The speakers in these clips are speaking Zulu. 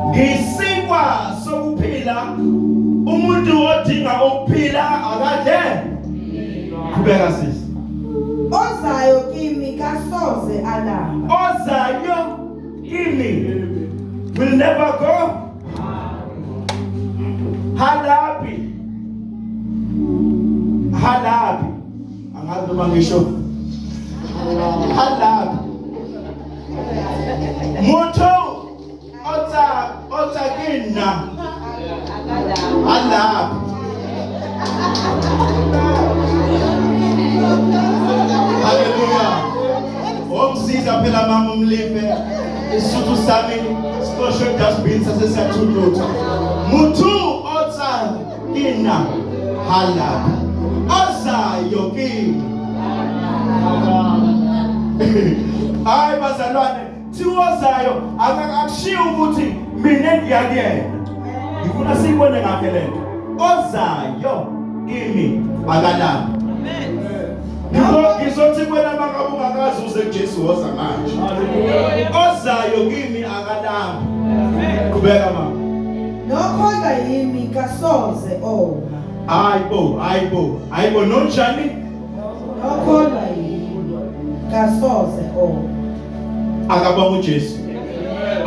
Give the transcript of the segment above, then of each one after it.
ngisikwa sokuphila umuntu odinga ukuphila akadle qhubeka sisi ozayo kimi kasoze alamba ozayo kimi will never go halabi halabi angazi noma ngisho halabi motho o tsa o tsa ke nna alapha haleluya omsiza phela mama umlive isithu sami sixoshwe dustbin sasesiyathuthutha muthu Nina halala azayo kimi hayi bazalwane thiwozayo akakushiyi ukuthi mina ngiyakuyena ngifuna siyibone ngakhe le nto ozayo kimi akalami ngizothi kwena makabungakazi uze kujesu woza manje ozayo kimi akalami qhubeka mama Nokholwa yimi kasoze oma. Hayi bo, hayi bo, hayi bo nonjani? Nokholwa yimi kasoze oma. Akabonga uJesu.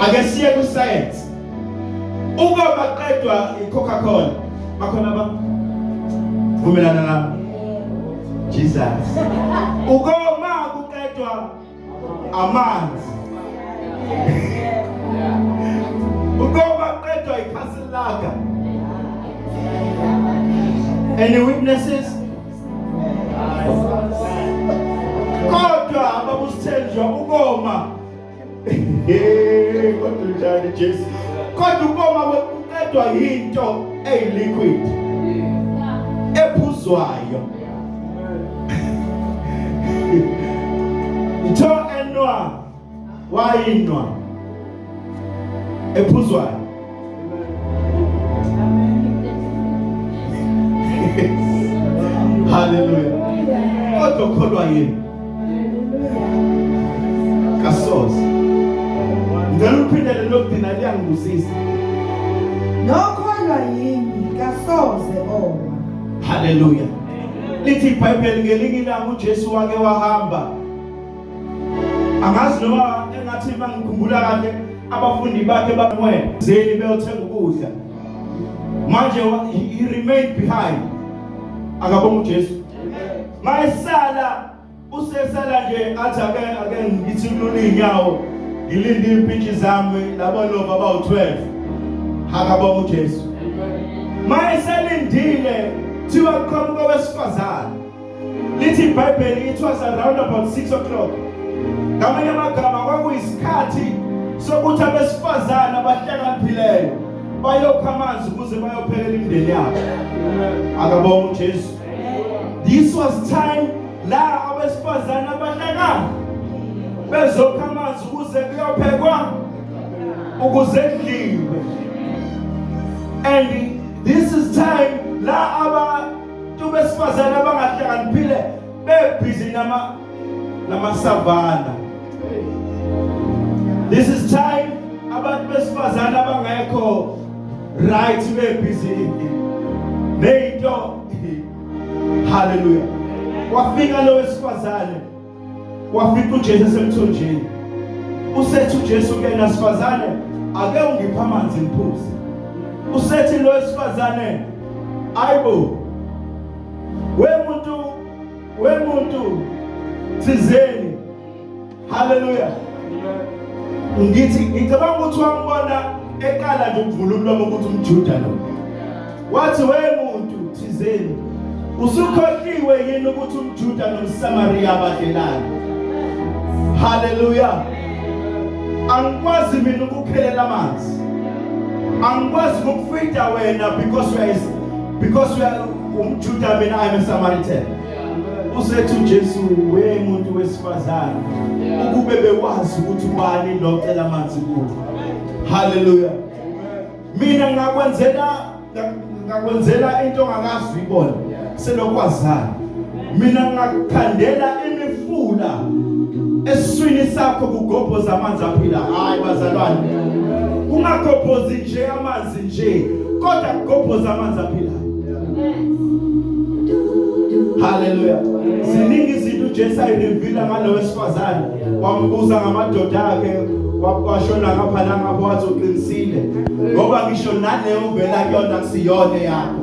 Ake siye ku science. Uba baqedwa iCoca-Cola, bakhona ba vumelana nami. Jesus. Ukoma kuqedwa amanzi uqoba qedwa ikhasini lakhe any witnesses kodwa ababusithenjwa ukoma hey kodwa njani Jesu kodwa ukoma kwedwa yinto eyiliquid ephuzwayo ntho enwa wayinwa ephuzwayo haleluya kodwa ukholwa yini kasoze ngicela uphindele lokudina liyangibusisa nokholwa yini kasoze oma Haleluya. Lithi iBhayibheli ngelinye ilanga uJesu wake wahamba. Angazi noma engathi mangikhumbula kahle abafundi bakhe bamwena zeni beyothenga ukudla. Manje he remained behind. Akabonga uJesu. Mayesala Usesala nje athi ake ake ngithi kunona izinyawo ngilinde impintshi zami labo lova abawu-12 hakabonga uJesu mayeselindile thiwa kuqhamuka wesifazane lithi ibhayibheli it was around about 6 o'clock ngamanye amagama kwakuyisikhathi sokuthi abesifazane abahlakanipheleyo bayokha amanzi ukuze bayophekela imindeni yabo akabonga uJesu This was time la abesifazane abahlangana bezokha amanzi ukuze kuyophekwa ukuze kudliwe and this is time la abantu besifazane abangahlakaniphile bebhizi nama namasavana this is time abantu besifazana abangekho right bebhizi neyinto haleluya wafika lo wesifazane wafika uJesu esemthonjeni usethi uJesu kuyena sifazane ake ungipha amanzi ngiphuze usethi lo wesifazane ayibo we muntu wemuntu thizeni haleluya ngithi ngicabanga ukuthi wambona ekala nje ukuvula umlomo ukuthi umjuda lo wathi wemuntu thizeni usukhohliwe yini ukuthi umjuda nomsamariya abadlelani haleluya angikwazi mina ukuphelela amanzi angikwazi ukufida wena because we are because we are umjuda mina i'm a samaritan usethi ujesu we muntu wesifazane ukube bekwazi ukuthi ubani lo cela amanzi kuwe haleluya mina ngakwenzela ngakwenzela into ongakazi uyibona selokwazana mina ngakukhandela imifula eswini sakho kugobhoza amanzi aphila hayi bazalwane ungagobhozi nje amanzi nje kodwa kugobhoza amanzi aphila haleluya ziningi izinto uJesu ayirivila ngalo wesifazane wambuza ngamadoda akhe washona ngapha nangapha wathi uqinisile ngoba ngisho naleyo vela kuyona kusiyona yakho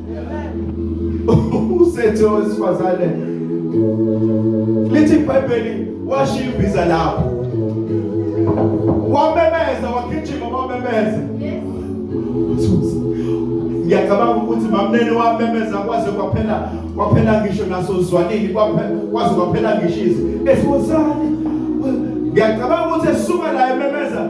usethe owesifazane lithi ibhayibheli washiya imbiza lapho wamemeza wagijima wamemeza ngiyacabanga ukuthi mamnene wamemeza kwaze kwaphela kwaphela ngisho naso zwanini kwaze kwaphela ngishizi esibuzane ngiyacabanga ukuthi esuka la ememeza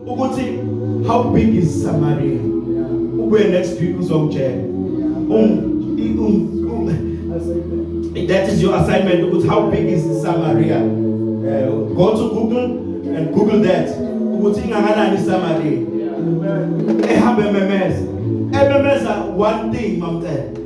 ukuthi how big is Samaria ubuye next week uzongitshela that is your assignment ukuthi how big is Samaria uh, go to Google and Google that ukuthi ingakanani Samaria ehambe memeza ememeza one thing mamcela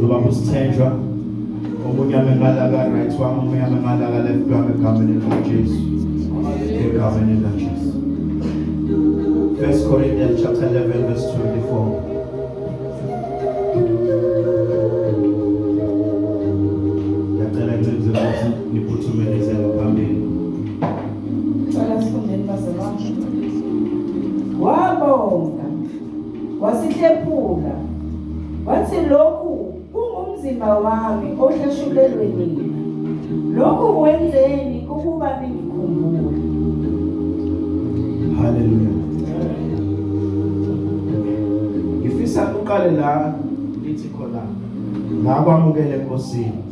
Zobamba usithenjwa omunye amemalaka right wami omunye amemalaka left wami egameni likaJesu egameni likaJesu First Corinthians chapter 11 verse 24 wasihlephula wathi lokhu kungumzimba wami ohlashulelwe nina lokhu wenzeni ukuba ningikhumbule haleluya ngifisa uqale la ngithi khona la kwamukele enkosini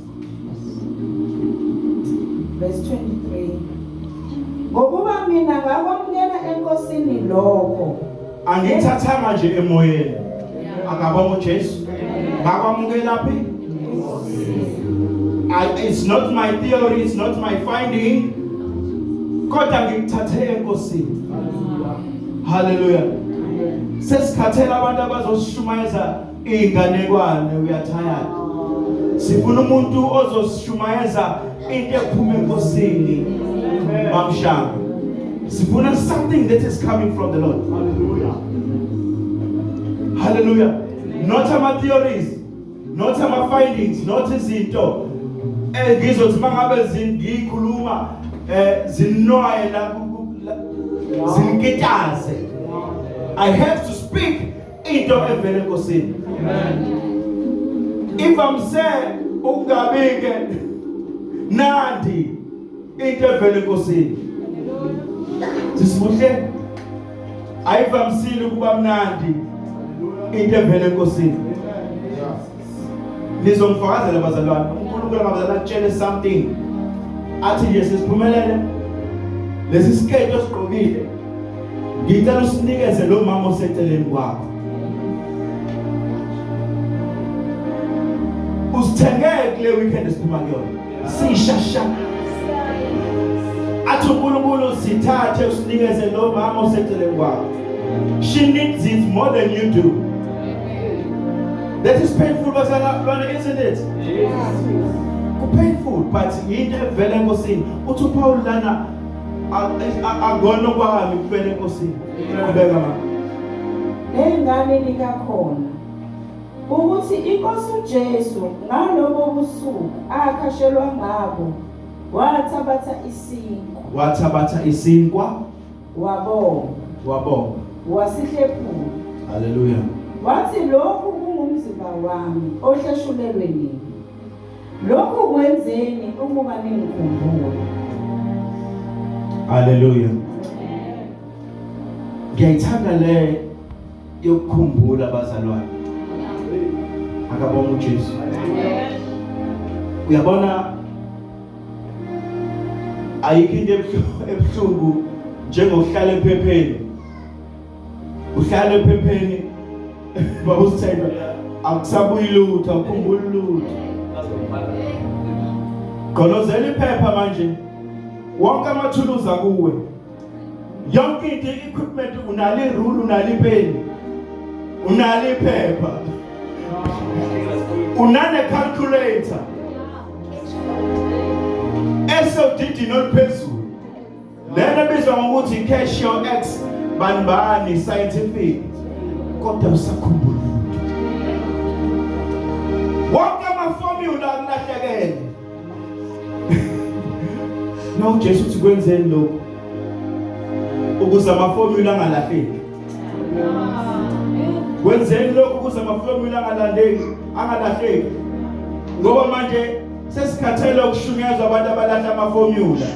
verse 23 ngokuba mina ngakwamukela enkosini lokho angithathanga nje emoyeni akabonga uJesu ngakwamukela phi it's not my theory it's not my finding kodwa ngikuthathe enkosini haleluya sesikhathela abantu abazosishumayeza Inganekwane uyathayana. Sifuna umuntu ozosishumayeza into ephuma enkosini. Mamshaka. Sifuna something that is coming from the Lord. Hallelujah. Hallelujah. Not ama theories, not ama findings, not izinto engizothi mangabe zingikhuluma eh zinoye la zinkitaze. I have to speak into evele enkosini ivamise ukungabike nandi into evele enkosini sisibuhle ayivamisile ukuba mnandi into evele enkosini Nizongifakazela bazalwane, uNkulunkulu akabazala atshele something. Athi nje sesiphumelele lesi siketo esigqokile. Ngicela usinikeze lo mama oseceleni kwakho. Usithengeke le weekend esiphuma kuyona. sishasha athi uNkulunkulu sithathe usinikeze lo mama oseceleni kwakho she needs it more than you do that is painful bazalwane isn't it yes. kupainful but yinto evela enkosini uthi uPaul lana akona kwami kufela enkosini qhubeka mama engane likakhona ukuthi iNkosi uJesu ngalobo busuku akhashelwa ngabo wathabatha isinkwa wathabatha isinkwa wabonga wabonga wasihlephula haleluya wathi lokhu kungumzimba wami ohleshulelwe nini lokhu kwenzeni ukuba ningikhumbule haleluya ngiyayithanda le yokukhumbula abazalwane akabonga uJesu uyabona ayikho into ebuhlungu njengokuhlala ephepheni uhlala ephepheni babusithemba akusabuyi lutho akukhumbuli lutho gqolozela iphepha manje wonke amathuluzi akuwe yonke into equipment unale rule unale pen unale phepha unane calculator esodidi noluphezulu lena bizwa ngokuthi cash your ex banibani scientific kodwa usakhumbula wonke amaformula akulahlekele na uJesu uthi kwenzeni lokho ukuze amaformula angalahleki kwenzeni lokho ukuze amaformula angalandeki angalahleki ngoba manje sesikhathele ukushunyezwa abantu abalahla amaformula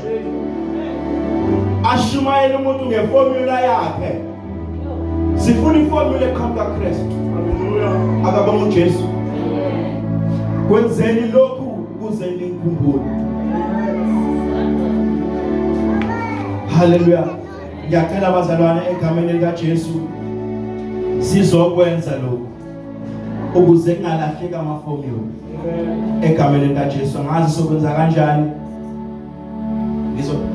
ashumayela umuntu ngeformula yakhe sifuna iformula eqhamuka Kristu akaba nguJesu kwenzeni lokhu ukuze nikhumbule haleluya ngiyacela abazalwane egameni likaJesu sizokwenza lokhu ukuze kungalahleki amaformula egameni likaJesu ngazi sokwenza kanjani ngizo